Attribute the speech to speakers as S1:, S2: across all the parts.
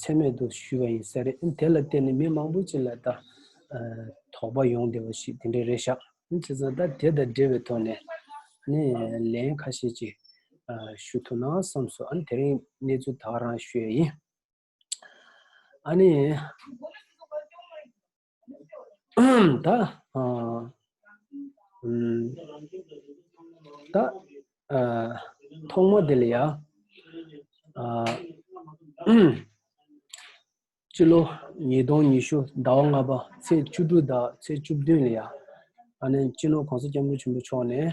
S1: ཚད་མེད་དུ་ཞུས་པ་ཡིན་ས་རེད་དེ་ལ་བརྟེན་ནས་མི་མང་པོ་ཅིག་ལ་ད་དོགས་པ་ཡོང་བདེ་བ་ཞིག་དེ་འདྲ་རེད་ཤག། དེ་ཚོ་ད་དེ་དང་འབྲེལ་བའི་ཐོག་ནས་ལན་ཁ་ཤས་ཅིག་ཞུ་ཐུབ་ན་བསམ་སོང་དེ་རིང་གནས་ཚུལ་དག་རང་ཤོད་ཡིན། ད་ད་ཐོག་མ་དེ་ལ་ཡ་སྤྱི་ལོ་ཉིས་སྟོང་ཉི་ཤུ་ཟླ་བ་ལྔ་པ་ཚེས་བཅུ་དྲུག་དང་ཚེས་བཅུ་བདུན་ལ་ཡ་ཨ་ནན་སྤྱི་ནོར་གོང་ས་སྐྱབས་མགོན་ཆེན་པོ་མཆོག་ནས་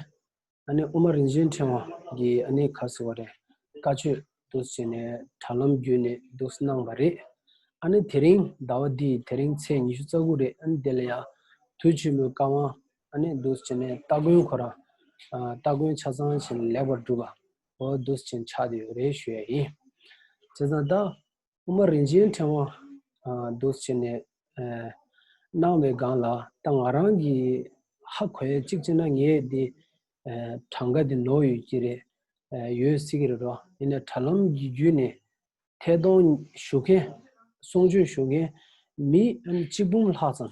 S1: ཨ་ནེ་དབུ་མ་རིན་ཆེན་ཕྲེང་བ་འདི་ཨ་ནེ་ག་ཟེར་བ་རེད་བཀའ་ཆོས་འདུག་ཟེར་ནས་དྲ་ལམ་བརྒྱུད་ནས་འདུག་གནང་བ་རེད། ཨ་ནེ་དེ་རིང་ཟླ་བ་འདིའི་དེ་རིང་ཚེས་ཉི་ཤུ་རྩ་དགུ་རེད་ཨ་ནེ་དེ་ལ་ཡང་དུས་ཆེན་མོའི་བཀའ་དབང་ཨ་ནེ་འདུག་ཟེར་ནས་སྟ་གོན་ཁོ་རང་སྟ་གོན་ཆ་ཚང་བྱས་ནས་ལེགས་པར་གྲུབ་པ་འོ་འདུག་ཟེར་ཆགས་དེ་རེད་ཞུས་ཡ་ཡིན། བྱས་ཙང་ད། དབུ་མ་རིན་ཆེན་ཕྲེང་བ་བདུད་བྱས་ནས། སྣང་བའི་སྒང་ལ་ད་ང་རང་གིས་ཧ་གོ་ཡ་གཅིག་བྱས་ན་ངས་འདི་གྲངས་ཀ་འདི་ནོར་ཡོད་ཀྱི་རེད་ཡོད་སྲིད་ཀྱི་རེད་རོ་ཡིན་ན་དྲ་ལམ་གྱི་བརྒྱུད་ནས་ཐད་གཏོང་ཞུ་མཁན་གསུང་ཆོས་ཞུ་མཁན་མི་གཅིག་འབུམ་ལྷག་ཙམ་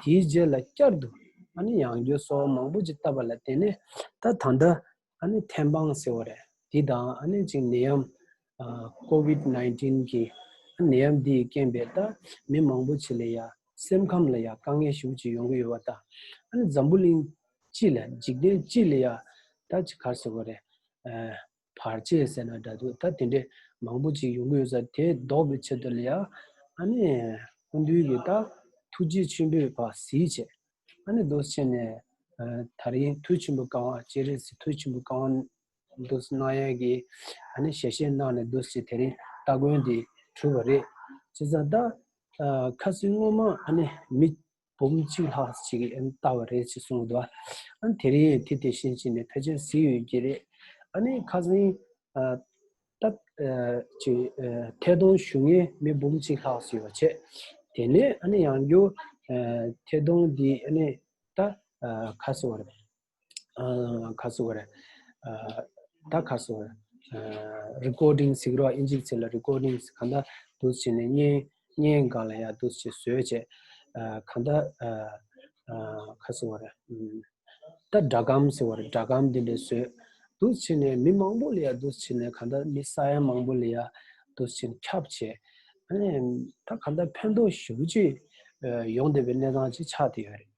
S1: དེའི་རྗེས་ལ་བསྐྱར་དུ་ཡང་རྒྱུ་སོགས་མང་པོ་ཅིག་བཏབ་པ་ལ་བརྟེན་ནས་ད་ད་ལྟ་ཐན་སྤང་ཟེར་བ་རེད། དེ་དང་གཅིག་ནད་ཡམས། Covid nineteen། གི་ནད་ཡམས་འདིས་རྐྱེན་པས་ད་མི་མང་པོ་ཆེ་ལ་ཡང་སེམས་ཁམས་ལ་ཡང་དཀའ་ངལ་ཤུགས་ཆེ་ཡོང་གི་ཡོད་པ་དང་འཛམ་བུ་གླིང་སྤྱི་ལ་འཇིག་རྟེན་སྤྱི་ལ་ཡང་ད་ཅི་གར་ཟེར་བ་རེད། བར་ཆད་ཟེར་ན་འདྲ་འདུག་ད་དེ་འདྲས་མང་པོ་ཅིག་ཡོང་གི་ཡོད་ས་དེ་ཟློག་པའི་ཆེད་དུ་ལ་ཡ་ཨ་ནི་སྐུ་མདུན་གྱི་ད་ཐུགས་རྗེ་ཆེན་པོས་བ་ཟིའི་ཆེད་ཨ་ནི་རྡོ་ཆེན་ནས་ད་རིང་མཐུ་ཆེན་པོ་བསྐང་བ་སྤྱན་རས་གཟིགས་མཐུ་ཆེན་པོ་བསྐང་བ་འདུག་སྣང་ཡས་ཀྱིས་ཨ་ནི་ཞལ་བཞེས་གནང་ནས་འདུག་ཅེས་དེ་རིང་སྟ་གོན་འདི་གྲུབ་པ་རེད། བྱས་ཙང་ད་ཁ་སིང་སྔོན་མ་ཨ་ནི་མི་འབུམ་གཅིག་ལྷག་ཅིག་གིས་ཨེ་བལྟ་བ་རེད་ཅེས་གསུངས་འདུག་ཨ་དེ་རིང་དེ་དེ་བཞིན་བྱས་ནས་ཕལ་ཆེར་གཟིགས་ཡོད་ཀྱི་རེད། ཨ་ནི་ཁ་སང། སྟབས། ཅིག། ཐད་གཏོང་ཞུ་མཁན་མི་འབུམ་གཅིག་ལྷག་ཅིག་ཡོད་པ་བྱས། དེ་ནས་ཨ་ནི་ཡང་བསྐྱར། ཐད་གཏོང་འདི་ཨ་ནི། ད། ཁ་གསལ་བ་རེད། ཁ་སུ་ག་རེ་ད་ཁ་སུ recording སིག་རོ་ཨིན་ཅིག་ཚེ་ལ recording གང་ད་དུ་ཆེ་ནས་ཉེ་ཉེ་གང་ལ་ཡ་དུ་ཆེ་སོས་ཆེ་གང་ད་ཁ་སུ་ག་རེ་ད་སྒྲ་གམ་སེ་བ་རེ་སྒྲ་གམ་དེ་འདྲ་སོས་དུ་ཆེ་ནས་མི་མང་པོ་ལ་ཡ་དུ་ཆེ་ནས་གང་ད་མི་ས་ཡ་མང་པོ་ལ་ཡ་དུ་ཆེ་ནས་ཁྱབ་ཆེ་ད་གང་ད་ཕན་ཐོགས་ཞུ་བྱེད་ཡོང་དེ་བའི་གནས་སྟངས་ཆེ་ཆགས་དེ་ཡོད་རེད།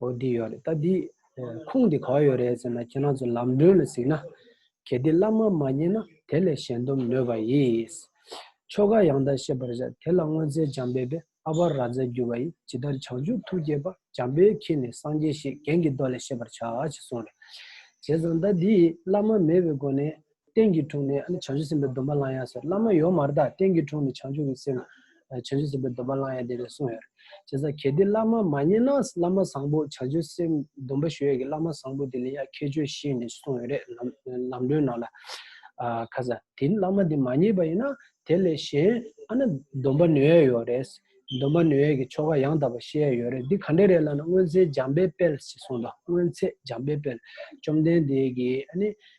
S1: ཨོ་འདི་ཡོད་རེད་ད་འདིས་ཁུངས་དེ་གང་ཡོད་རེད་ཟེར་ན་ཁྱེད་རང་ཚོ་ལམ་སྒྲོན་ལ་གཟིགས་ན། གལ་ཏེ་བླ་མ་མ་རྙེད་ན་དེ་ལས་གཞན་སྡོམ་ནོས་པ་ཡིས། ཆོ་ག་ཡང་དག་ཤེས་པར་བྱ་དེ་ལ་སྔོན་ཚེ་འཇམ་དཔལ་པས་ཨ་བ་ར་ཛ་བརྒྱུད་པ་ཡིས་ཇི་ལྟར་བྱང་ཆུབ་ཐུགས་བསྐྱེད་པ་འཇམ་དཔལ་ཁྱེད་ནི་སངས་རྒྱས་ཞེས་རྒྱན་གྱི་མདོ་ལས་ཤེས་པར་བྱ་ཞེས་གསུངས་རེད། བྱས་ཙང་ད་འདིས་བླ་མ་མེད་པའི་སྒོ་ནས་རྟེན་གྱི་དྲུང་ནས་བྱང་ཆུབ་སེམས་དཔའི་སྡོམ་པ་བླང་ཡང་ཟེར་བླ་མ་ཡོད་མར་དག་རྟེན་གྱི་དྲུང་ནས་བྱང་ཆུབ་ཀྱི་སེམས་བྱང་ཆུབ་སེམས་དཔའི་སྡོམ་པ་བླང་ཡང་དེ་ལས་གསུངས་ཡོད། བྱས་ཙང་གལ་ཏེ་བླ་མ་མ་རྙེད་ན་བླ་མ་བཟང་པོ་བྱང་ཆུབ་སེམས་སྡོམ་པ་ཞུ་ཡས་ཀྱི་བླ་མ་བཟང་པོ་དེ་ལས་ཡག་ཁྱད་ཆོས་ཤེས་ནས་གསུངས་ཡོད་རེད་ལམ་སྒྲོན་ནང་ལ། ཁ་ས་དེ་བླ་མ་དེ་མ་རྙེད་པ་ཡིན་ན་དེ་ལས་གཞན་ཨ་ན་སྡོམ་པ་ནོད་ཡས་ཡོད་རེད། སྡོམ་པ་ནོད་ཡས་ཀྱི་ཆོ་ག་ཡང་དག་པ་ཤེས་ཡས་ཡོད་རེད་འདི་ག་འདྲས་རེད་ལབ་ན་སྔོན་ཚེ་འཇམ་དཔལ་དཔལ་ཞེས་གསུངས་དང་སྔོན་ཚེ་འཇམ་དཔལ་དཔལ་བཅོམ་ལྡན་འདས་ཀྱིས་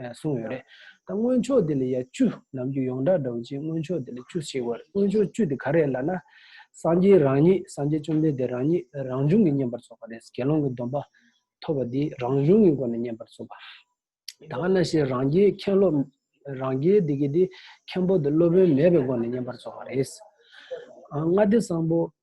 S1: གསུངས་ཡོད་རེད། ད་སྔོན་ཆོག་དེ་ལ་ཡང་བཅུ་ནམ་རྒྱུ་ཡོངས་གྲགས་འདྲ་བོ་ཅིག་སྔོན་ཆོག་དེ་ལ་བཅུ་ཞེས་བར་སྔོན་ཆོག་བཅུ་དེ་ག་རེད་ལ་ན། སངས་རྒྱས་རང་ཉིད་སངས་རྒྱས་བཅོམ་ལྡན་འདས་རང་ཉིད་རང་བྱུང་གི་བསྙེན་པར་ཚོགས་པ་རེད་དགེ་སློང་གི་སྡོམ་པ་ཐོབ་པ་དེ་རང་བྱུང་གི་སྒོ་ནས་བསྙེན་པར་ཚོགས་པ། ད་ག་ན་ཞེས་རང་རྒྱལ་མཁན་སློབ་རང་རྒྱལ་དེ་གི་དེ་མཁན་པོ་དེ་སློབ་དཔོན་མེད་པའི་སྒོ་ནས་བསྙེན་པར་ཚོགས་པ་རེད། ལྔ་སྡེ་བཟང་པོ་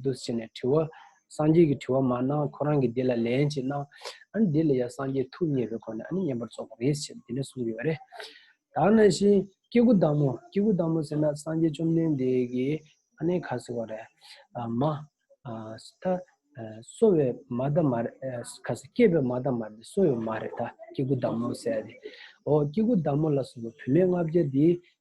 S1: འདུ་བྱས་ནས་དྲི་བ། སངས་རྒྱས་ཀྱི་དྲི་བ་མ་གནང་ཁོ་རང་གིས་འདི་ལ་ལན་ཅིག་གནང། ཨ་ནི་འདི་ལ་ཡང་སངས་རྒྱས་ཐུགས་མཉེས་པའི་སྒོ་ནས་ཨ་ནི་བསྙེན་པར་རྫོགས་པར་རེ་ཞིག་བྱེད་དེ་ནས་གསུངས་ཡོད་རེད། དག་ན་བཞིན་སྐྱེ་དགུ་བདག་མོ་སྐྱེ་དགུ་བདག་མོ་ཟེར་ན་སངས་རྒྱས་བཅོམ་ལྡན་འདས་ཀྱི་ཨ་ནེ་ག་ཟེར་བ་རེད། མ། ད། གསོ་བའི་མ་ད་མ་རེད། ག་ཟེ་སྐྱེས་པའི་མ་ད་མ་རེད་གསོ་བའི་མ་རེད་ད་སྐྱེ་དགུ་བདག་མོ་ཟེར་ཡ་རེད། ཨོ་སྐྱེ་དགུ་བདག་མོ་ལ་སོགས་པའི་བུད་མེད་ལྔ་བརྒྱ་འདིས་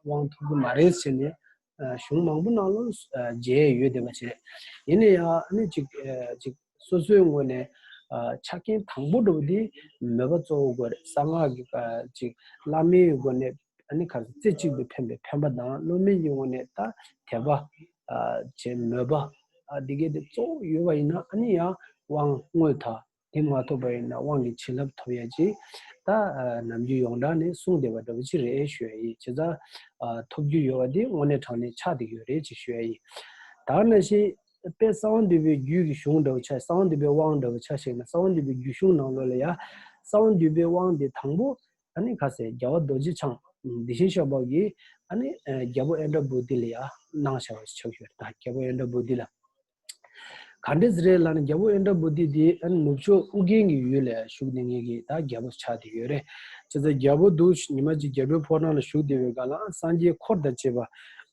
S1: དབང་ཐོབ་ཀྱི་མ་རེད་ཟེར་ནས་གཞུང་མང་པོ་ནང་ལོ་བརྗེས་ཡོད་བསྡད་པ་རེད། ཡིན་ན་ཡང་ཨ་ནི་ཅིག་ཅིག་སོ་སོའི་ངོས་ནས་ཆ་རྐྱེན་དང་པོ་འགྲོ་བ་དེ་མོས་པ་གཙོ་བོ་དགོས་རེད་གསང་སྔགས་ཀྱི་ཅིག་བླ་མའི་སྒོ་ནས་ཨ་ནི་ག་ཚོད་རྩེ་གཅིག་ཏུ་ཕན་པའི་ཕན་པ་དང་བློ་དམན་གྱི་ངོས་ནས་ད་དད་པ། ཅེས་མོས་པ། འདི་གའི་དེ་གཙོ་བོ་ཡོད་པ་ཡིན་ན་ཨ་ནི་ཡང་དབང་དངོས་དང། དེ་མ་ཐོབ་པ་ཡིན་ན་དབང་གི་བྱིན་རླབས་ཐོབ་ཡ་ཅིག་ད་ནམ་རྒྱུ་ཡོངས་གྲགས་ནས་གསུངས་བསྡད་པ་འདྲ་བོ་ཅིག་རེད་ཞུ་ཡ་ཡིན་ཇི་ལྟར་ཐོབ་རྒྱུ་ཡོད་པ་དེ་དངོས་གནས་དྲང་གནས་ཆགས་འདེགས་ཡོད་རེད་ཅེས་ཞུ་ཡ་ཡིན། དར་ནག་ཤེས་དཔལ་གསང་བ་འདུས་པའི་རྒྱུད་ཀྱི་གཞུང་འདྲ་བོ་ཆགས་གསང་བ་འདུས་པའི་དབང་འདྲ་བོ་ཆགས་ཤིག་ན་གསང་བ་འདུས་པའི་རྒྱུད་གཞུང་ནང་ལོ་ལ་ཡ། གསང་བ་འདུས་པའི་དབང་དེ་དང་པོ། ཨ་ནི་ཁ་ཟས་རྒྱལ་བ་རྡོ་རྗེ་འཆང། དེ་བཞིན་ཤོག་སྦག་གིས། ཨ་ནི་རྒྱལ་པོ་ཨེ་འདྲ་བུ་དེ་ལ་ཡ། གནང་བྱ་བ་ཞིག་ཆགས་ཞུ་ཡ་རེད་ད་རྒྱལ་པོ་ཨེ་འདྲ་བུ་དེ་ལ། ག་འདྲས་རེད་ལ་ནི་རྒྱལ་པོ་ཨེ་འདྲ་བོ་དེ་དེ་ནུབ་ཕྱོགས་ཨུ་རྒན་གྱི་ཡུལ་ལ་བཞུགས་ཏེ་ངེད་ཀྱི་ད་རྒྱལ་པོ་ཆགས་ཏེ་ཡོད་རེད་ཅེས་ཚ་རྒྱལ་པོ་འདུག་ཤི་ཉི་མ་གཅིག་རྒྱལ་པོའི་ཕོ་བྲང་ལ་བཞུགས་བདེ་བའི་སྒང་ལའང་སངས་རྒྱས་འཁོར་དང་བཅས་པ་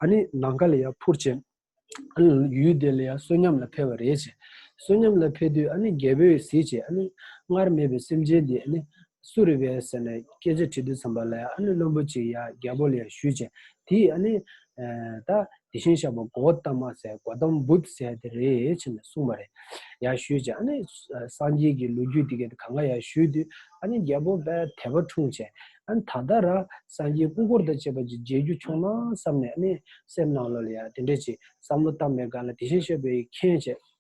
S1: ཨ་ནི་ནམ་མཁའ་ལ་ཡང་འཕུར་ཅིང། ཨ་ནི་ཡུལ་དེ་ལ་ཡང་བསོད་ཉམས་ལ་འཕེལ་བ་རེད་ཅེས། བསོད་ཉམས་ལ་འཕེལ་དུས་ཨ་ནི་རྒྱལ་པོས་གཟིགས་ཀྱིས་ཨ་ནི་སྔར་མེད་པའི་སེམས་ཅན་དེ་ཨ་ནི་སུ་རེད་བས་ཟེར་ནས་སྐད་ཆ་དྲིས་དུས་ཚངས་པ་ལ་ཨ་ནེ་བླུན་པོ་ཅིག་ཡ་རྒྱལ་པོ་ལ་ཡང་ཞུས་བྱས་དེས་ཨ་ནེ། ད་དེ་བཞིན་བཞག་པ་མགོ་བོ་གཏམ་མ་ཟེར་མགོ་གཏམ་འབུད་ཟེར་ཡ་དེ་རེད་བྱས་ནས་གསུངས་པ་རེད་ཡ་ཞུས་བྱས་ཨ་ནེ། སངས་རྒྱས་ཀྱི་ལོ་རྒྱུས་དེ་ག་དེ་གང་ག་ཡ་ཞུས་དུས་ཨ་ནེ་རྒྱལ་པོ་བས་དད་པ་འཁྲུངས་བྱས་ཨ་ནེ་ད་ལྟ་ར་སངས་རྒྱས་སྐུ་འཁོར་དང་བཅས་པ་ཅིག་མཇལ་རྒྱུ་བྱུང་ན་བསམ་ནས་ཨ་ནེ་སེམས་ནང་ལོ་ལ་ཡ་དེ་འདྲ་ཅིག་བསམ་བློ་བཏང་མེད་ག་ལ་དེ་བཞིན་བཤད་པའི་མཁྱེན་བྱས།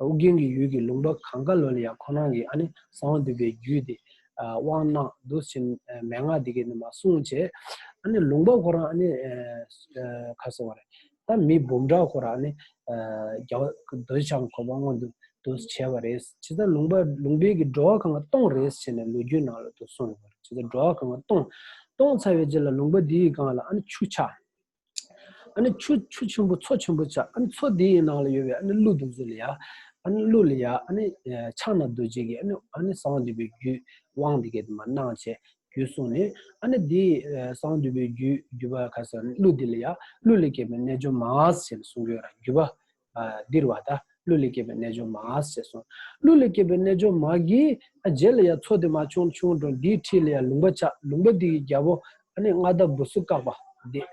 S1: ཨོ་རྒྱན་གྱི་ཡུལ་གྱི་ལུང་པ་གང་ག་ལོལ་ཡང་ཁོ་རང་གིས་ཨ་ནི་གསང་བ་འདུས་པའི་རྒྱུད་དེ། དབང་རྣམས་བདུད་བཞི་མན་ངག་འདི་སྐད་ནི་མ་གསུངས་ཅེས། ཨ་ནི་ལུང་པ་ཁོ་རང་ཨ་ནི། ཁ་ཟེར་བ་རེད། ད་མི་འབུམ་ཕྲག་ཁོ་རང་ཨ་ནི། རྒྱལ་བ་འདོད་ཆགས་གོ་འཕང་མངོན་དུ་བྱས་པ་རེད། ཇི་ལྟར་ལུང་པ་ལུང་པའི་གི་འགྲོ་བ་གང་ག་སྟོང་རེད་ཟེར་ནས་ལོ་རྒྱུས་ནང་ལ་དུ་གསུངས་ཡོད་པ་རེད། ཇི་ལྟར་འགྲོ་བ་གང་ག་སྟོང། སྟོང་ཚར་བའི་རྗེས་ལ་ལུང་པ་འདིའི་སྒང་ལ་ཨ་ནི་ཆུ་ཆགས། ཨ་ནི་ཆུ་ཆུ་ཆེན་པོ་མཚོ་ཆེན་པོ་བྱ། ཨ་ནི་མཚོ་དེའི་ནང་ལ་ཡོད་པའི་ཨ་ནི་ཀླུ་དང་གཟུགས་ལ་ཡ། ཨ་ནི་ཀླུ་ལ་ཡ་ཨ་ནི་ཕྱག་ན་རྡོ་རྗེ་གི་ཨ་ནི་ཨ་ནི་གསང་འདུས་པའི་རྒྱུད་དབང་འདི་སྐད་དུ་མ་སྣང་བྱས་རྒྱུད་གསུངས་ནས། ཨ་ནི་དེའི་གསང་འདུས་པའི་རྒྱུད་རྒྱུད་པ་ག་ས་ཨ་ནི་ཀླུ་དེ་ལ་ཡ། ཀླུ་ལས་སྐྱེས་པའི་རྣལ་འབྱོར་མ་སེ་ལ་གསུང་གི་ཡོད་ལ་རྒྱུད་པ་འདིར་བ་དག་ཀླུ་ལས་སྐྱེས་པའི་རྣལ་འབྱོར་མ་ཟེར་སོང། ཀླུ་ལས་སྐྱེས་པའི་རྣལ་འབྱོར་མ་གིས་རྗེས་ལ་ཡང་ཚོགས་དེ་མ་བྱུང་བྱུང་འགྲོ་འདིའི་ཁྲིད་ལ་ཡང་ལུང་པ་ཆགས་ལུང་པ་འདི་ཡི་རྒྱལ་པོ་མངའ་བདག་འབུ་སུ་བཀག་པ།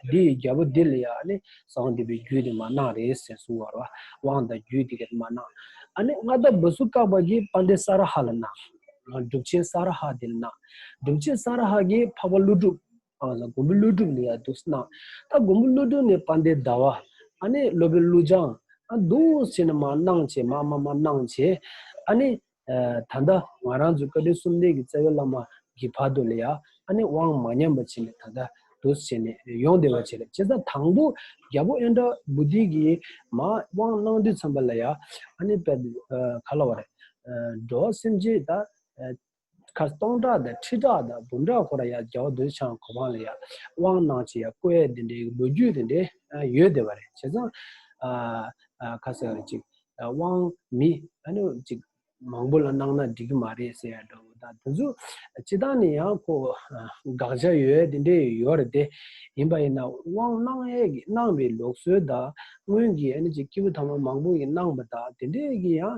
S1: འདི་ཡི་རྒྱལ་པོ་འདི་ལ་ཡང་བཟང་འདི་པའི་རྒྱུད་དེ་མ་གནང་རེ་ཟེར་གསུང་བར་བ་དབང་དང་རྒྱུད་དེ་གར་མ་གནང། མངའ་བདག་འབུ་སུ་བཀག་པ་གིས་པཱ་འདྲེ་ས་ར་ཧ་ལ་གནང། སྒྲུབ་ཆེན་ས་ར་ཧ་དེ་ལ་གནང། སྒྲུབ་ཆེན་ས་ར་ཧ་གིས་འཕགས་པ་ཀླུ་སྒྲུབ། ཨ་ལ་མགོན་པོ་ཀླུ་སྒྲུབ་ནི་ཡང་འདུག་སྣང། ད་མགོན་པོ་ཀླུ་སྒྲུབ་ནི་པད་ཟླའི་ཟླ་བ། ཨ་ནི་སློབ་དཔོན་ཀླུ་བྱང། ཨ་འདུག་ཟེར་ནས་མ་གནང་བྱས་མ་མ་མ་གནང་བྱས། ཨ་ནི། ད་ལྟ་ང་རང་ཚོའི་བཀའ་དྲིན་གསུམ་ལྡན་གྱི་རྩ་བའི་བླ་མ་གི་བར་དུ་ལ་ཡང་ཨ་ནི་དབང་མ་ཉམས་པ་བྱས་ནས་ད་ལྟ་འདུག་ཟེར་ནས་ཡོང་བདེ་བ་བྱས་ལ་བྱས་ཙང་དང་པོ་རྒྱལ་པོ་ཨེ་འདྲ་བུ་དེ་གིས་མ་དབང་གནང་དུས་ཚངས་པ་ལ་ཡང་ཨ་ནི་པད་ཟླའི་ག་ལ་བ་རེད། འགྲོ་བ་སེམས་ཅན་ད། ཁ་སྟོང་ཕྲག་དང་ཁྲི་ཕྲག་དང་འབུམ་ཕྲག་འཁོར་ར་ཡ་རྒྱལ་བ་འདོད་ཆགས་གོ་འཕང་ལ་ཡ་དབང་གནང་བྱེད་ཡ་བསྐོ་ཡ་དེ་འདྲའི་ལོ་རྒྱུས་དེ་འདྲའི་ཡོད་བསྡད་པ་རེད་བྱས་ཙང། ཁ་ཟེར་བ་ཅིག་དབང་མི་ཅིག་མང་པོ་ལ་གནང་ན་འགྲིག་གི་མ་རེད་ཟེར་ཡ་འདྲ་བོ་དང་དེ་ཚོ་སྤྱི་བཏང་ནས་ཡང་ཁོ་དགག་བྱ་ཡོད་དེ་འདྲའི་ཡོད་རེད་དེ། ཡིན་པ་ཡིན་ན་དབང་གནང་ཡ་གི་གནང་བའི་ལོག་སྲོལ་དང་སྔོན་གྱི་སྐྱེས་བུ་ཐ་མ་མང་པོ་གི་གནང་བ་དང་དེ་འདྲའི་གི་ཡང་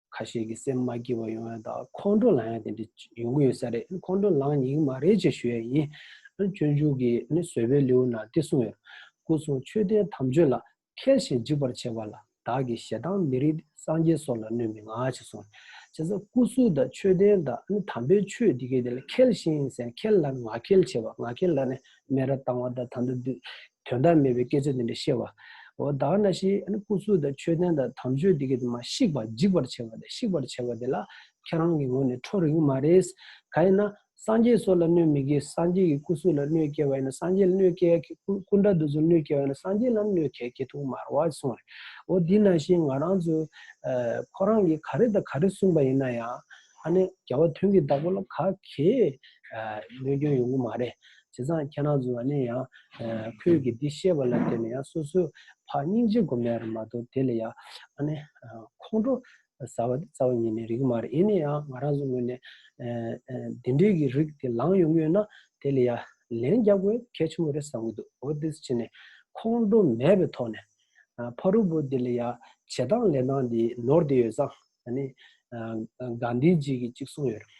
S1: ཁ་ཤས་ཀྱིས་སེམས་མ་སྐྱིད་པ་ཡོང་ཡོད་དང་ཁོང་ཁྲོ་ལངས་ཡོད་དེ་འདྲ་ཡོང་གི་ཡོད་ས་རེད་ཁོང་ཁྲོ་ལངས་ཉིན་གྱི་མ་རེད་ཅེས་ཞུ་ཡས་ཡིན། སྤྱོད་འཇུག་གི་བཟོད་པའི་ལེའུ་ནང་འདི་གསུངས་ཡོད། སྐུ་གསུང་ཆོས་ལྡན་དམ་ཆོས་ལ་མཁས་ཤིང་འཇིགས་པར་བྱེད་པ་ལ་བདག་གིས་ཞེ་སྡང་མི་རིགས་ཏེ་སངས་རྒྱས་སོགས་ལ་གནོད་མི་མངའ་ཅེས་གསུངས། བྱས་ཙང་སྐུ་གསུང་དང་ཆོས་ལྡན་དང་དམ་པའི་ཆོས་འདི་གའི་དེ་ལ་མཁས་ཤིང་ཟེར་མཁས་ལ་ནི་ང་མཁས་བྱེད་པ་ང་མཁས་ལ་ནི་སྨད་ར་བཏང་བ་དང་ད་ལྟ་དུས་དོན་དག་མེད་པའི་སྐད་ཆ་དེ་འདྲ་བཤད་པ། འོ་བདག་ན་ཞི་ཨ་ཀུ་ཚུལ་དང་ཆོས་ལྡན་དང་དམ་ཆོས་དེ་གས་དེ་མ་བཤིག་པར་འཇིག་པར་བྱེད་པ་དང་བཤིག་པར་བྱེད་པ་དེ་ལ་ཁྱེད་རང་གི་ངོ་ནས་ཁྲོ་རིགས་མ་རེད། ག་ཡིན་ན། སངས་རྒྱས་སོགས་ལ་གནོད་མི་དགོས་སངས་རྒྱས་ཀྱི་སྐུ་གཟུགས་ལ་གནོད་སྐྱེལ་བ་ཡིན་ན་སངས་རྒྱས་ལ་གནོད་སྐྱེལ་ཡ་ཁྱེད་སྐུ་འདྲ་འདུག་ཚུལ་གནོད་སྐྱེལ་བ་ཡིན་ན་སངས་རྒྱས་ལའང་གནོད་སྐྱེལ་ཁྱེད་ཐུགས་མར་བ་གསུངས་རེད། འོ་འདི་ན་ཞི་ང་རང་ཚོས། ཁོ་རང་གིས་ག་རེ་དང་ག་རེ་གསུངས་པ་ཡིན་ན་ཡང། ཨ་ནི་རྒྱལ་བ་དོན་གྱི་བདག་པོ་ལ་ག་གེ། གནོད་སྐྱོན་ཡོང་གི་མ་རེད། བྱས་ཙང་ཁྱེད་རང་ཚོ་ལ་ནི་ཡང། ཁོས་གི་འདི་ཤེས་པ་ལ་བརྟེན་ནས་ཡང་སོ་སོའི་ཕ་སྙིང་རྗེ་སྒོམ་ནས་རེད་མ་གཏོགས་དེ་ལ་ཡང། ཨ་ནི། ཁོང་ཁྲོ། ཟ་བ་འདི་རྩ་བ་ཉིད་ནས་རིགས་མ་རེད་ཡིན་ནའི་ཡང་ང་རང་ཚོ་ངོས་ནས། འདི་འདྲའི་གི་རིགས་དེ་ལངས་ཡོང་གི་ཡོད་ན་དེ་ལ་ཡང་ལན་རྒྱག་དགོས་གལ་ཆེན་པོ་རེད་བསམ་གི་འདུག་འོ་དེ་ཕྱིན་ནས། ཁོང་ཁྲོ་མེད་པའི་ཐོག་ནས། ཕ་རུ་བོ་དེ་ལ་ཡང་བྱེད་སྟངས་ལས་སྟངས་དེ་ནོར་དེ་ཡོད་ཙང་ཨ་ནི། གང་འདི་ཅིག་གིས་ཅིག་གསུངས་ཡོད་རེད།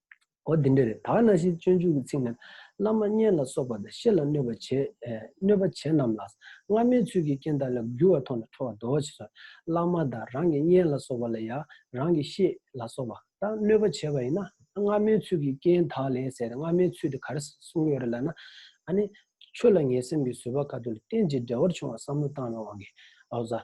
S1: འོ་དེ་འདྲ་རེད་ད་ན་ཞིག་སྤྱོད་འཇུག་གི་ཚིག་ནི། བླ་མ་མཉན་ལ་སོགས་པ་དང་བཤེས་ལ་གནོད་པ་བྱེད། གནོད་པ་བྱེད་རྣམས་ལ། སྔ་མའི་ཚུལ་གྱིས་རྐྱེན་དག་ལ་རྒྱུ་བ་ཐོག་ནས་འཕྲོ་བར་འདོད་བ་བྱེད་ཚུལ། བླ་མ་དང་རང་གི་མཉན་ལ་སོགས་པ་ལ་ཡང་རང་གི་བཤེས་ལ་སོགས་པ་དང་གནོད་པ་བྱེད་པ་ཡིན་ན། སྔ་མའི་ཚུལ་གྱིས་རྐྱེན་དག་ལས་ཟེར་ཏེ་སྔ་མའི་ཚུལ་དེ་ག་རེ་གསུངས་ཡོད་རེད་ལབ་ན། ཨ་ནི། ཆོས་ལ་ངན་སེམས་ཀྱི་བཟོད་པ་ག་དུས་ལ་རྟེན་ཅིང་འབྲེལ་བར་བྱུང་བ་བསམ་བློ་བཏང་བའི་དབང་གིས། ཨོ་བཟའ།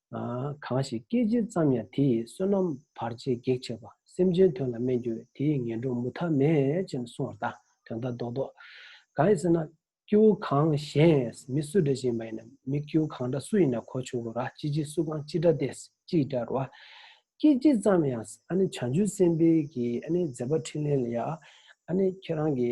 S1: གང་ཞིག་སྐད་ཅིག་ཙམ་ཡང་དེ་ཡི་བསོད་ནམས་བར་ཆད་བགེགས་བྱེད་པ་སེམས་ཅན་དོན་ལ་སྨད་འགྱུར་བས་དེ་ཡི་ངན་འགྲོ་མུ་མཐའ་མེད་ཅེས་གསུང་བར་བལྟ། དོན་དག་རྡོག་རྡོག། གང་ཡིན་ཟེར་ན། སྐྱེ་བོ་གང་གཞན་མི་སུ་འདྲ་ཞིག་ཡིན་པ་ཡིན་ན་མི་སྐྱེ་བོ་གང་འདྲ་སུ་ཡིན་ན་གོ་ཆོག་གོ་ར་ཅི་བྱེད་སུ་གང་ཅི་འདྲ་བལྟས་ཅི་འདྲ་རོ། སྐད་ཅིག་ཙམ་ཡང་བྱང་ཆུབ་སེམས་དཔའི་གྱི་མཛད་པ་ཕྲིན་ལས་ལ་ཡང་ཁྱེད་རང་གི་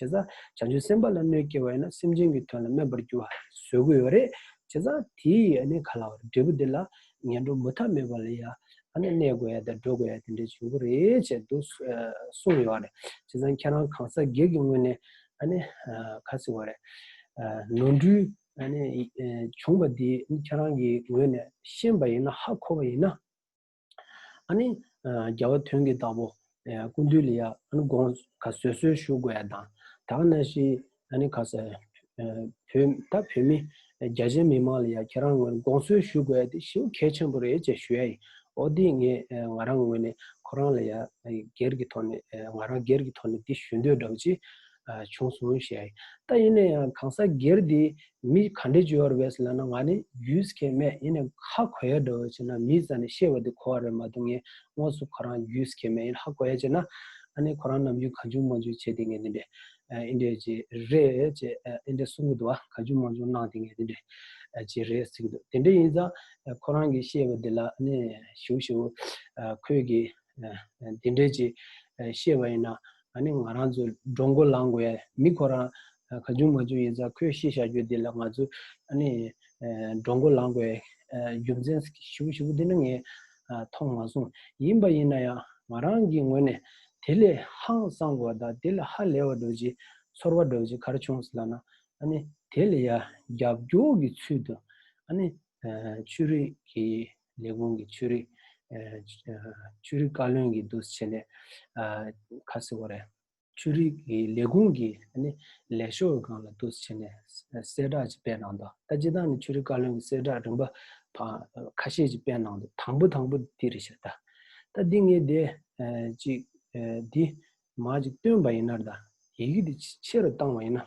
S1: བྱས་ཙང་བྱང་ཆུབ་སེམས་དཔའ་ལ་གནོད་སྐྱེལ་བ་ཡིན་ན་སེམས་ཅན་གྱི་དོན་ལ་སྨད་པར་འགྱུར་བ་བཟོད་དགོས་ཡོད་རེད། བྱས་ཙང་དེ་ཡིས་ག་ལ་བར་འབྲས་བུ་འདི་ལ་ངན་འགྲོ་མུ་མཐའ་མེད་པ་ལ་ཡང་གནས་དགོས་ཡ་དང་འགྲོ་དགོས་ཡ་དེ་འདྲའི་བྱུང་རྒྱུ་རེད་ཅེས་འདུག་གསུངས་ཡོད་རེད། བྱས་ཙང་ཁྱེད་རང་གང་ཟག་སྒེར་གྱི་ངོས་ནས་ག་ཟེར་བ་རེད། ནོར་འཁྲུལ་བྱུང་བ་འདི་ཁྱེད་རང་གི་ངོས་ནས་ཤེས་པ་ཡིན་ན་ཧ་གོ་བ་ཡིན་ན། ཨཱ་ནི། རྒྱལ་བ་དོན་གྱི་བདག་པོ། ཀུན་འདུས་ལ་ཡང་ཨཱ་ནི་དགོངས། བཟོད་གསོལ་ཞུ་དགོས་ཡ་དང། དག་ན་ཤི། ཨཱ་ནི་ཁ་ཟེར། བོད། ད་བོད་མི། རྒྱ་ཆེན་མི་མང་ལ་ཡང་ཁྱེད་རང་ངོས་ནས་དགོངས་གསོལ་ཞུ་དགོས་ཡ་དེ་ཞེའུ་གལ་ཆེན་པོ་རེད་ཅེས་ཞུ་ཡ་ཡིན། ཨོ་དེ་ངས་ང་རང་ངོས་ནས་ཁོ་རང་ལ་ཡང། སྒེར་གྱི་ཐོག་ནས། ང་རང་སྒེར་གྱི་ཐོག་ནས་འདི་ཞུ་འདོད་འདྲ་བོ་ཅི། བྱུང་སོང་ཞེས་ཨ་ཏྭ་ཡིན་ན་ཡང་གང་ཟག་སྒེར་དེས་མི་ག་འདྲས་བྱོས་བར་བས་ལ་ན་ང་ནི་རྒྱུས་སྐད་མེད་ཡིན་ནས་ཧ་གོ་ཡ་འགྲོ་བས་བྱས་ན་མི་ས་ནས་ཤེས་བ་དེ་གོ་བ་རེད་མ་གཏོགས་ངས་དངོས་སུ་ཁོ་རང་རྒྱུས་སྐད་མེད་ཡིན་ཧ་གོ་ཡ་བྱས་ན་ཨ་ནི་ཁོ་རང་ནམ་རྒྱུས་གང་བྱུང་མ་བྱུང་བྱས་དེ་ངས་འདི་འདྲས་ཨི་འདྲས་ཅེས་རེད་ཅེས་ཨ་ཏྭ་གསུང་གི་འདུག་བ་གང་བྱུང་མང་བྱུང་གནང་དེ་ངས་འདི་འདྲས་ཅེས་རེད་ཟེར་གི་འདུག་དེ་འདྲས་ཡིན་ཙང་ཁོ་རང་གིས་ཤེས་བ་དེ་ལ་ནི་ཞུ་ཞུ། ཁོས་ཀྱིས་དེ་འདྲས་ཅེས་ཤེས་བ་ཡིན་ན་ད་ནི་ང་རང་ཚོས་འགྲོ་མགོ་ལངས་དགོས་ཡ་མི་ཁོ་རང་ག་ཅུང་མ་ཅུང་ཡིན་ཙང་ཁོས་ཤེས་བཞག་རྒྱུ་འདི་ལ་ང་ཚོས་ད་ནི་འགྲོ་མགོ་ལངས་དགོས་རྒྱུ་མཚན་ཞིབ་པོ་ཞིབ་པོ་འདི་འདྲ་ངས་མཐོང་མ་སོང་ཡིན་པ་ཡིན་ན་ཡང་ང་རང་གི་ངོས་ནས་དེ་ལས་ཧང་བསངས་དགོས་པ་དང་དེ་ལས་ཧ་ལས་བ་འགྲོ་ཅི་ཚོར་བ་འགྲོ་ཅི་གར་བྱུང་ཟེར་ན་ད་ནི་དེ་ལ་ཡ་རྒྱབ་སྐྱོར་གྱི་ཚུལ་དུ་ད་ནི་ཆོས་རིག་གི་ལས་ཁུངས་ཀྱི་ཆོས་རིག་ཆོས་རིག་བཀའ་བློན་གྱི་འདུ་བྱེད་ནས་ཁ་གསལ་བོ་རེད། ཆོས་རིག་གི་ལས་ཁུངས་ཀྱི་ལས་ཤོག་གང་ལ་འདུ་བྱེད་ནས་གསལ་བསྒྲགས་ཅིག་སྤེལ་གནང་དང་ད་ཅི་ཐང་ནས་ཆོས་རིག་བཀའ་བློན་གྱི་གསལ་བསྒྲགས་རིམ་པ་ཁ་ཤས་ཅིག་སྤེལ་གནང་དང་དང་པོ་དང་པོ་འདི་རེད་ཤག་ད་ད་འདི་ངས་འདི་ཅིག་འདི་མ་ཅིག་བཏོན་པ་ཡིན་ནར་ད་ཡི་གེ་འདི་ཆེ་རུ་བཏང་བ་ཡིན་ན།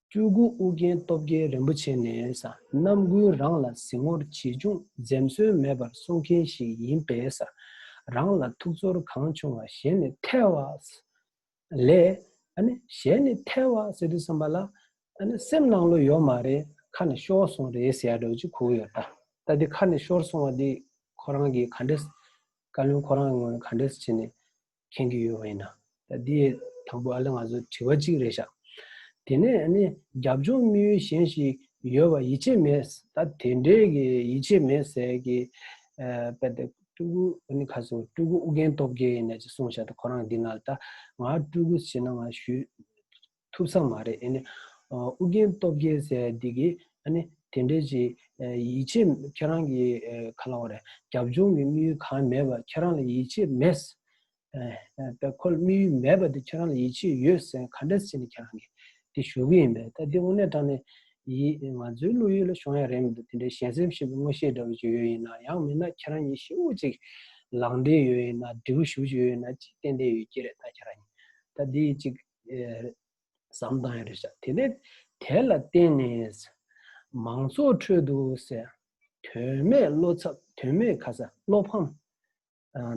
S1: སྤྲུལ་སྐུ་ཨོ་རྒྱན་སྟོབས་རྒྱལ་རིན་པོ་ཆེ་ནས་རྣམ་ཀུན་རང་ལ་གཟིགས་ངོར་ཇི་བྱུང་འཛེམ་ཟོན་མེད་པར་གསུང་མཁན་ཞིག་ཡིན་པས། རང་ལ་ཐུགས་ཚོར་གང་བྱུང་བ་གཞན་ནས་ཐལ་བ། ལས། གཞན་ནས་ཐལ་བ་ཟེར་དུས་བསམ་པ་ལ། སེམས་ནང་བློ་ཡོད་མ་རེད་ཁ་ནས་ཤོར་སོང་རེད་ཟེར་ཡ་འགྲོ་ཅི་ཁུག་ཡོད་ད། ད་དེ་ཁ་ནས་ཤོར་སོང་བ་དེ་ཁོ་རང་གིས་ག་འདྲས། བཀའ་བློན་ཁོ་རང་གི་ངོས་ནས་ག་འདྲས་བྱས་ནས། མཁྱེན་གྱི་ཡོད་པ་ཡིན། ད་དེ་དང་པོ་ཨ་ལེ་ང་ཚོ་དྲི་བ་གཅིག་རེ་བཞག་དེ་ནས་རྒྱབ་ལྗོངས་དམིགས་ཡུལ་གཞན་ཞིག་ཡོད་པ་ཡིད་ཆེས་མེད་ད་དེ་འདྲའི་གི་ཡིད་ཆེས་མེད་ཟེར་གི་པད་དེ་སྤྲུལ་སྐུ་ཨ་ནི་ཁ་སང་སྤྲུལ་སྐུ་ཨུ་རྒྱན་སྟོབས་རྒྱལ་ཡིན་ནས་ཅིག་གསུངས་བཞག་ད་ཁོ་རང་གི་འདི་ན་ད་ང་སྤྲུལ་སྐུ་བྱེད་ན་ང་ཞུས། ཐུབ་ས་མ་རེད་ཨཱ་ནི། ཨུ་རྒྱན་སྟོབས་རྒྱལ་ཟེར་བ་འདི་གིས་ཨཱ་ནི། དེ་འདྲའི་ཅི། ཡིད་ཆེས་ཁྱེད་རང་གིས་ག་ལ་བ་རེད། རྒྱབ་ལྗོངས་ཀྱི་དམིགས་ཡུལ་གང་མེད་པར་ཁྱེད་རང་ལ་ཡིད་ཆེས་མེད། པའི་ཁོ་ལ་དམིགས་ཡུལ་མེད་པ་དེ་ཁྱེད་རང་ལ་ཡིད་ཆེས་ཡོད་ཟེར་ག་འདྲ་སྲིད་ནས་ཁྱེད་རང་གིས་དེ་ཞུ་གི་ཡིན་པས་ད་དེ་དངོས་གནས་དྲང་ནས། ཡིད། ང་ཚོའི་བློ་ཡུལ་ལ་ཤོང་ཡ་རེད་མི་འདུག་དེ་འདྲའི་གཞན་སེམས་ཞེས་པའི་དངོས་ཤེས་འདྲ་བོ་ཅིག་ཡོད་ཡིན་ན་ཡང་མིན་ན་ཁྱེད་རང་གཉིས་ཤི་བོ་ཅིག། ལང་འདྲེ་ཡོད་ཡིན་ན་འབྲས་བུ་ཞུ་བྱེད་ཡོད་ཡིན་ན་ཅི་བསྟན་བསྟན་ཡོད་ཀྱི་རེད་ད་ཁྱེད་རང་གཉིས། ད་དེ་ཡིས་ཅིག། ཟམ་དང་ཡོད་པར་བྱ། དེ་ནས་དེ་ལ་བརྟེན་ནས། མང་ཚོགས་ཁྲོད་དུ་སེ། དོན་མེད་བློ་འཚབ་དོན་མེད་ཁ་ཟ་བློ་ཕམ།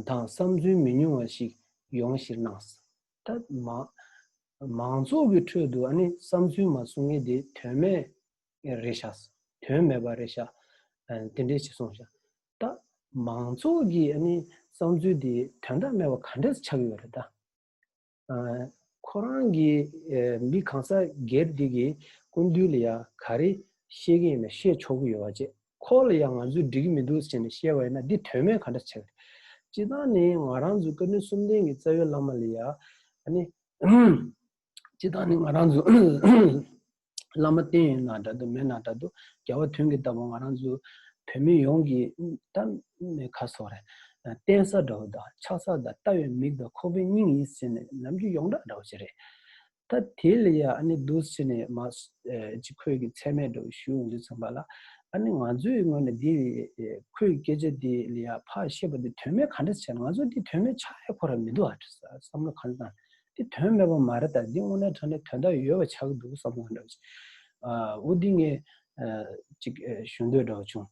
S1: དང་བསམ་ཚུལ་མི་ཉུང་བ་ཞིག་ཡོང་གཞིར་སྣང། ད། མང་ཚོགས་ཀྱི་ཁྲོད་དུ་བསམ་ཚུལ་མ་གསུང་མཁན་དེ་དོན་མེད་རེད་བྱ། དོན་མེད་པ་རེད་བྱ། དེ་འདྲས་བྱེད་སོང་བྱ། ད། མང་ཚོགས་ཀྱི་བསམ་ཚུལ་དེ་དོན་དག་མེད་པ་ག་འདྲས་ཆགས་ཡོད་རེད་ད། ཁོ་རང་གིས་མི་གང་སར་སྒེར་བདེ་གི་ཀུན་བཏུས་ལ་ཡང་ག་རེ་བཤད་ཀྱི་ཡིན་ན་བཤད་ཆོག་གི་ཡོད་བ་བྱས། ཁོ་ལ་ཡང་ང་ཚོས་འགྲིག་གི་མི་འདུག་ཟེར་ནས་བཤད་བ་ཡིན་ན་འདི་དོན་མེད་ག་འདྲ་བྱས། སྤྱི་བཏང་ནི་ང་རང་ཚོའི་བཀའ་དྲིན་གསུམ་ལྡན་གྱི་རྩ་བའི་བླ་མ་ལ་ཡང། སྤྱི་བཏང་ནི་ང་རང་ཚོའི། བླ་མ་བསྟེན་ཡོད་ན་འདྲ་འདུག་མེད་ན་འདྲ་འདུག་རྒྱལ་བ་དོན་གྱིས་ལྟ་བུ་ང་རང་ཚོ་བོད་མི་ཡོངས་ཀྱི་ད་ནི་ཁ་སོགས་རེད། བསྟེན་ས་འདྲ་བོ་དང་ཆགས་ས་དང་ལྟ་བའི་མིག་དང་ཁོག་པའི་སྙིང་ཡིན་ཟེར་ནས་ནམ་རྒྱུན་ཡོངས་གྲགས་འདྲ་བོ་ཞིག་རེད། ད་དེ་ལ་ཡང་ཨ་ནི་འདུག་ཟེར་ནས་མ་ཅིག་ཁོས་ཀྱི་ཚད་མས་འདྲ་བོ་ཞུས་འོང་དུས་མཚུངས་པ་ལ། ཨ་ནི་ང་ཚོའི་ངོས་ནས་འདི་ཁོའི་སྐད་ཆ་དེ་ལ་ཡང་ཕ་ཤེས་པ་དེ་དོན་མེད་ག་འདྲ་བྱས་ན་ང་ཚོ་འདི་དོན་མེད་ཆགས་ཡ་ཁོ་ར་མི་འདུག་ཨ་བསམ་བློ་ག་འདྲ་བཏང་དེ་དོན་སྨྲས་པ་མ་རེད་ད་འདི་དངོས་གནས་ཐོན་ནས་དོན་དག་ཡོད་པ་ཆགས་ཀྱི་འདུག་བསམ་བློ་འདྲ་བ་ཅིག་འོ་འདི་ངས་ཅིག་ཞུ་འདོད་འདྲ་བ་བྱུང།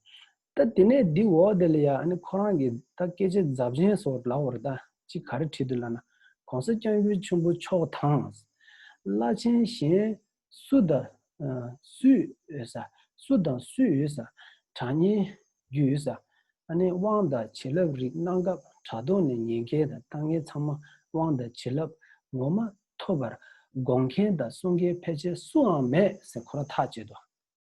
S1: ད་དེ་ནས་འདི་འོག་དེ་ལ་ཡང་ཨ་ནི་ཁོ་རང་གིས་ད་སྐད་ཆ་རྫབ་ཆེན་སོགས་ལབ་བར་ད་ཅིག་ག་རེ་བྲིས་འདུག་ལབ་ན་གོང་ས་སྐྱབས་མགོན་ཆེན་པོ་མཆོག་དང། བླ་ཆེན་གཞན་སུ་དང། སུའི་འོས་ས། སུ་དང་སུའི་འོས་ས། གྲགས་སྙན། རྒྱུའི་འོས་ས། ཨ་ནེ་དབང་དང་བྱིན་རླབས་རིགས་གནང་སྐབས་དྲ་ཐོག་ནས་ཉན་མཁན་དང་ལྟ་མཁན་ཚང་མ་དབང་དང་བྱིན་རླབས་ངོ་མ་ཐོབ་པར་དགོངས་མཁན་དང་གསུང་མཁན་ཕལ་ཆེར་སུའང་མེད་ཟེར་ཁོ་ར་ཐག་བཅད་དོ།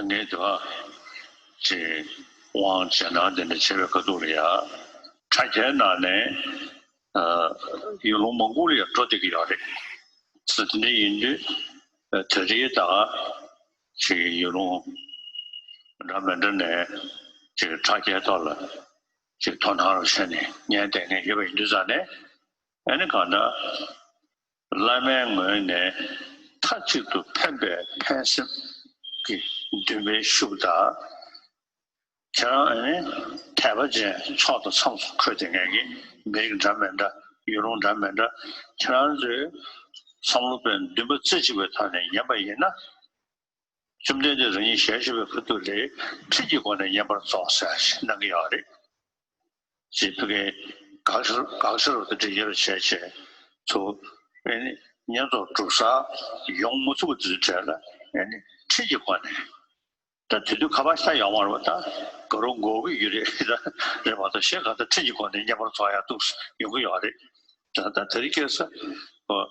S2: ནད་དུ་ཨ། ཅེས་དབང་བྱས་ན་དེ་ནི་བྱེ་བའི་ཁ་དོག་ལ་ཡང། དྲ་རྒྱའི་ནང་ནས་ཡུལ་ལུང་མང་པོ་ལ་ཡང་འགྲོ་བསྡད་ཀྱི་ཡོད་རེད། ཚུལ་དེ་འདྲ་ཡིན་དུས་ད་རེས་ད། ཅེས་ཡུལ་ལུང་འདྲ་མི་འདྲ་ནས་ཅེས་དྲ་རྒྱའི་ཐོག་ལ་ཅེས་དོ་སྣང་རོགས་བྱས་ནས་ཉན་བསྡད་མཁན་ཡོད་པ་ཡིན་དུས་ཙང་ནས་ཨ་ནི་གང་འདྲ། བླ་མའི་ངོས་ནས་མཐའ་གཅིག་ཏུ་ཕན་པའི་ཕན་སེམས་ཀྱི་འདུན་པའི་ཤུགས་དག་ཁྱེད་རང་ཨ་ནི་དད་པ་ཅན་ཚོགས་དང་མཚམས་སུ་འཁོད་དེ་ངེད་ཀྱི་མི་རིགས་འདྲ་མེད་འདྲ་ཡུལ་ལུང་འདྲ་མེད་འདྲ་ཁྱེད་རང་ཚོའི་བསམ་བློ་པའི་འདུན་པ་རྩེ་གཅིག་པའི་ཐོག་ནས་ཉན་པ་ཡིན་ན་བཅོམ་ལྡན་འདས་རང་ཉིད་ཞལ་བཞི་པའི་ཕུ་ཐུག་ལས་ཁྲིད་ཀྱི་སྒོ་ནས་བསྙེན་པར་རྫོགས་ཟེར་བ་ཞིག་གནང་གི་ཡོད་རེད། ཅེས་ཕུ་ཁའི་དགག་བྱ་དགག་བྱ་རབ་ཏུ་འགྲེལ་རྒྱ་ཆེ་ཆེ་དུ་ཨེ་ནི་བསྙེན་རྫོགས་གྲུབ་ས་ཡོང་མུ་ཚུགས་དུས་དྲན་ལ་ཨེ་ནི་ཁྲིད་ཀྱི་སྒོ་ནས་ད་དུས་དུས་ཁ་བ་ཤ་ཡང་མར་བ་ད་ག་རུ་འགོ་དགོས་ཀྱི་རེད་ད་རེད་བ་དང་གཞན་གང་ལྟར་ཁྲིད་ཀྱི་སྒོ་ནས་བསྙེན་པར་རྫོགས་ཡག་ཐུགས་སུ་ཡོང་གི་ཡོད་རེད། ད་ལྟ་དེ་རིགས་སྐད་ས་བོ་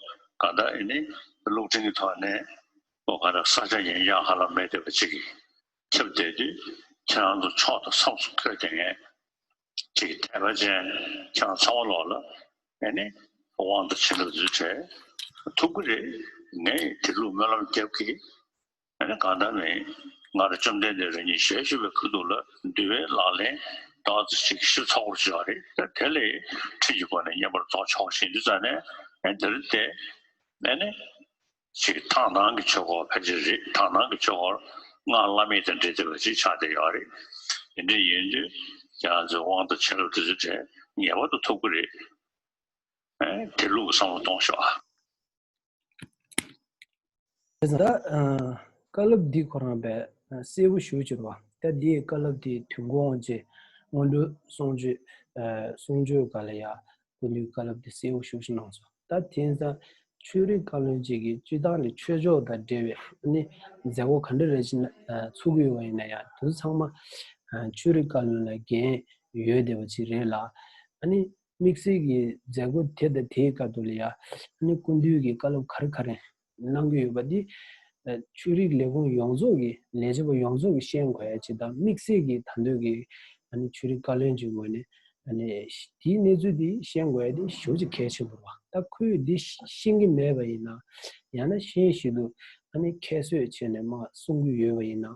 S2: གང་དག་ཨེ་ནི་གློག་འཕྲིན་གྱི་ཐོག་ནས་ལོ་ཁ་ར་ས་ཆ་ཡིན་ཀྱང་ཧ་ལམ་མེད་བསྡད་པ་གཅིག་ཡིན། ཁྱབ་བསྡད་དུས་ཁྱེད་རང་ཚོ་ཕྱོགས་དང་མཚམས་སུ་འཁོད་བསྡད་ངེས། ཁྱེད་ཀྱི་དད་པ་ཅན་ཁྱེད་རང་ཚང་བ་ལོག་ལ། ངས་ནི་དབང་དང་བྱིན་རླབས་རྫུས་བྲལ། ཐུགས་ཁུར་རེ་ངས་དེ་ལུགས་སྨོན་ལམ་རྒྱབ་ཀྱི། ངས་ནི་གང་ལྟར་མིན། ང་རང་བཅོམ་ལྡན་འདས་རང་ཉིད་ཞལ་བཞུགས་པའི་ཕུག་ཐུག་ལ་འདུལ་བའི་ལག་ལེན་དག་ཚིག་གཅིག་གིས་ཞིབ་ཚགས་པོར་བྱས་པ་རེད། དེ་ལས་ཁྲིད་ཀྱི་སྒོ་ནས་བསྙེན་པར་རྫོགས་ཆོག་ཞེས་འདུན་བརྩམས་ནས་ངས་འདིར་བསྡད། ངས་ནི་ཞིག་ཐང་ནང་གི་ཆོས་འཁོར་ཕལ་ཆེར་རེད་ཐང་ནང་གི་ཆོས་འཁོར་སྔར་བླ་མེད་དང་འབྲེལ་ཐེབས་པ་ཞིག་ཆགས་བསྡད་ཡོད་རེད་དེ་འདྲ་ཡིན་དུས་རྒྱ་མཚོའི་དབང་དང་བྱིན་རླབས་དེ་ཚོའི་གྲས་ངེས་པར་དུ་ཐོབ་ཀྱི་རེད་དེ་ལུགས་བསམ་བློ་གཏོང་ཤོག་ཨ།
S1: དེ་ཚོ། བཀའ་སློབ་འདི་ཁོ་རང་པས་གསལ་བོ་ཞུ་ཕྱིར་བ། ད་འདིའི་བཀའ་སློབ་དེའི་དུས་འགོ་འོང་རྗེས་སྔོན་འགྲོའི་གསུང་ཆོས་གསུང་ཆོས་ག་ལ་ཡག་ཀུན་འདུས་བཀའ་སློབ་དེ་གསལ་བོ་ཤོག་ཤིག་གནང་སོང། ད་དེང་སང་ཆོས་རིག་བཀའ་བློན་གཅིག་གིས་སྤྱི་བཏང་གི་ཆོས་ཕྱོགས་དང་འབྲེལ་བའི་མཛད་སྒོ་ག་འདྲ་རེ་བྱེད་ན་ཚུགས་ཀྱི་ཡོད་ཡིན་ན་ཡང་དེ་ཚོ་ཚང་མ་ཆོས་རིག་བཀའ་བློན་ལ་འགན་ཡོད་བསྡད་པ་ཅིག་རེད་ལ། དམིགས་བསལ་གྱི་མཛད་སྒོ་དེ་དང་དེའི་སྐབས་དུ་ལ་ཡང་ཀུན་འདུས་ཀྱི་བཀའ་སློབ་ག་རེ་ག་རེ་གནང་གི་ཡོད་པ་འདི་ཆོས་རིག་ལས་ཁུངས་ཡོངས་རྫོགས་ཀྱི་ལས་བྱེད་པ་ཡོངས་རྫོགས་ཀྱི་ཤེས་དགོས་ཡ་ཆེད་དང་དམིགས་བསལ་གྱི་དང་འདོད་ཀྱི་ཆོས་རིག་བཀའ་བློན་གྱི་ངོས་ནས་དེའི་གནས་ཚུལ་འདི་ཤེས་དགོས་ཡ་འདི་ཞོ་ཅིག་གལ་ཆེན་པོ་རེད་བ་ད་ཁོས་འདི་ཤེས་ཀྱི་མེད་པ་ཡིན་ན་ཡང་ན་ཤེས་བཞིན་དུ་ཁྱད་གསོད་བྱས་ནས་མ་གསུང་གི་ཡོད་པ་ཡིན་ན།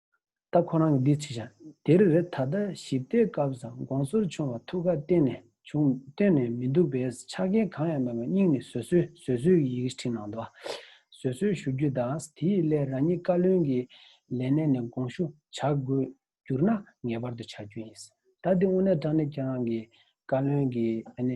S1: ད་ཁོ་རང་གི་འདི་ཚིག་བྱ། དེར་རེ་ད་ལྟ་ཞིབ་བལྟས་སྐབས་སམ་དགོངས་ཟུར་ཆུང་བ་ཐུགས་ཁ་གཏན་ནས་བྱུང་བལྟོས་ནས་མི་འདུག་པས་ཆ་རྐྱེན་གང་ཡང་མེད་པར་སྙིང་ནས་བཟོད་གསོལ་བཟོད་གསོལ་གྱི་ཡི་གེ་བྲིས་གནང་འདུག་བཟོད་གསོལ་ཞུ་རྒྱུ་དང་དེའི་སླད་རང་ཉིད་བཀའ་བློན་གྱི་ལས་གནས་ནས་དགོངས་ཞུ་བྱ་དགོས་གྱུར་ན་ངེས་པར་དུ་བྱ་རྒྱུ་ཡིན། ད་འདི་དངོས་གནས་དྲང་ནས་ཁྱེད་རང་གི་བཀའ་བློན་གྱི།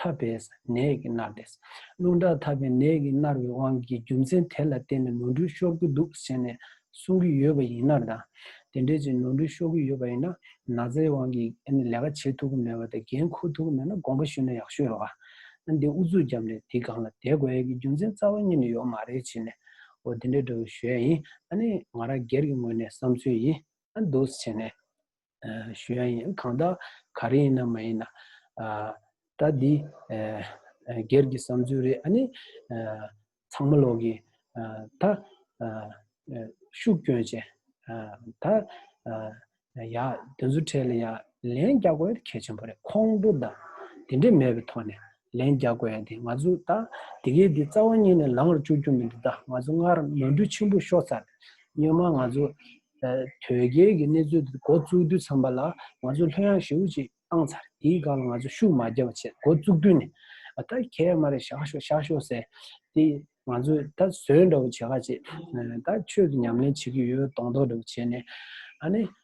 S1: ཐར་པས་ནད་ཀྱིས་མནར་ཏེ། རླུང་དྲག་ཐར་པའི་ནད་ཀྱིས་མནར་བའི་དབང་གིས་རྒྱུ་མཚན་དེ་ལ་བརྟེན་ནས་ནོར་འཁྲུལ་ཤོར་གྱི་འདུག་ཟེར་ནས་གསུང་གི་ཡོད་པ་ཡིན་ནར་དང། དེ་འདྲའི་ཚེ་ནོར་འཁྲུལ་ཤོར་གྱི་ཡོད་པ་ཡིན་ན་ན་ཚའི་དབང་གིས་ལས་ཀ་བྱེད་ཐུབ་ཀྱི་མེད་པ་དང་འགན་འཁུར་ཐུབ་ཀྱི་མེད་ན་དགོངས་པ་ཞུས་ན་ཡག་ཤོས་རེད་བ། ཨ་འདི་ཨུ་ཚུགས་རྒྱབ་ནས་དེའི་སྒང་ལ་དེད་དགོས་ཡས་ཀྱི་རྒྱུ་མཚན་རྩ་བ་གཉིས་ནས་ཡོག་མ་རེད་བྱས་ནས་འོ་དེ་འདྲ་འདྲ་བོ་ཞུ་ཡས་ཡིན་ཨ་ནི་ང་རང་སྒེར་གྱི་ངོས་ནས་བསམ་ཚུལ་ཡིན་ཨ་འདུག་ཟེར་ནས། ཞུ་ཡང་ཡིན་གང་དག་ག་རེ་ཡིན་ན་མ་ཡིན་ན་ད་འདི་སྒེར་གྱི་བསམ་ཚུལ་རེད་ཨ་ནི་ཚང་མ་ལོག་གི་ད་ཤུགས་སྐྱོན་ཅན་ད་ཡ་དེ་ཚོ་ཁྲལ་ཡ་ལན་རྒྱག་དགོས་གལ་ཆེན་པོ་རེད་ཁོང་ཁྲོ་དང་དེ་འདྲས་མེད་པའི་ཐོག་ནས་ལན་རྒྱག་དགོས་ཡ་དེ་ང་ཚོ་ད་དེ་གས་དེ་རྩ་བ་ཉིད་ནས་ལངས་ར་བཅུག་རྒྱུ་མི་འདུག་ད་ང་ཚོ་སྔར་ནོར་འཁྲུལ་ཆེན་པོ་ཤོར་ཚར་སྙན་མ་ང་ཚོ་དོལ་རྒྱལ་གྱི་གནས་ཚུལ་འདི་འགོ་བཙུགས་དུས་ཚང་པ་ལ་ང་ཚོ་ལྷོད་ཡངས་ཞེ་བོ་ཅིག་བཏང་ཚར་དེའི་སྒང་ལ་ང་ཚོ་ཤུགས་མ་རྒྱག་པ་བྱས་འགོ་བཙུགས་དུས་ནས་ད་གས་མ་རེད་བཞག་ཤོག་བཞག་ཤོག་ཟེར་དེ་ང་ཚོ་ད་བཟོད་འདྲ་བོ་བྱེད་ག་ཅིག་ད་ཆོས་ཀྱི་ཉམས་ལེན་བྱེད་ཀྱི་ཡོད་གདོང་མདོག་འདྲ་བོ་བྱས་ནས་ཨ་ནི་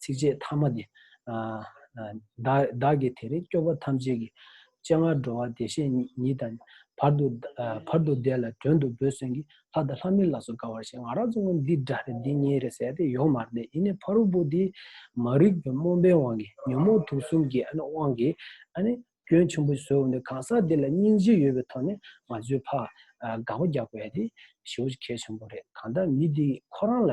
S1: ཚིགས་བཅད་ཐ་མ་འདི། བདག་གིས་དེ་རིང་སྐྱོབ་པ་ཐམས་ཅད་ཀྱི། སྤྱན་སྔར་འགྲོ་བ་བདེ་གཤེགས་ཉིད་དང། བར་དུ་བཟླས་ལ་དོན་དུ་འབོད་གསོལ་གྱིས། ལྷ་དང་ལྷ་མིན་ལ་སོགས་དགའ་བར་བྱེད། ང་རང་གཙུག་ན་འདི་འདྲ་རེད་འདི་གཉིས་རེད་ཟེར་ཏེ་ཡོང་མར་བསྡད་ཡིན་ནའི་ཕ་རོལ་པོ་འདིས། མ་རིག་པའི་རྨོངས་པའི་དབང་གིས་ཉོན་མོངས་དུག་གསུམ་གྱི་དབང་གིས། སྐྱོན་ཆེན་པོ་བཟོས་འོང་ནས་གང་ཟག་འདི་ལ་སྙིང་རྗེ་ཡོད་པའི་ཐོག་ནས་ང་ཚོའི་ཕ། དགག་པ་རྒྱག་པ་ཡ་དེ་ཞེ་བོ་གལ་ཆེན་པོ་རེད་གང་ལྟར་མི་འདིས་ཁོ་རང་ལ།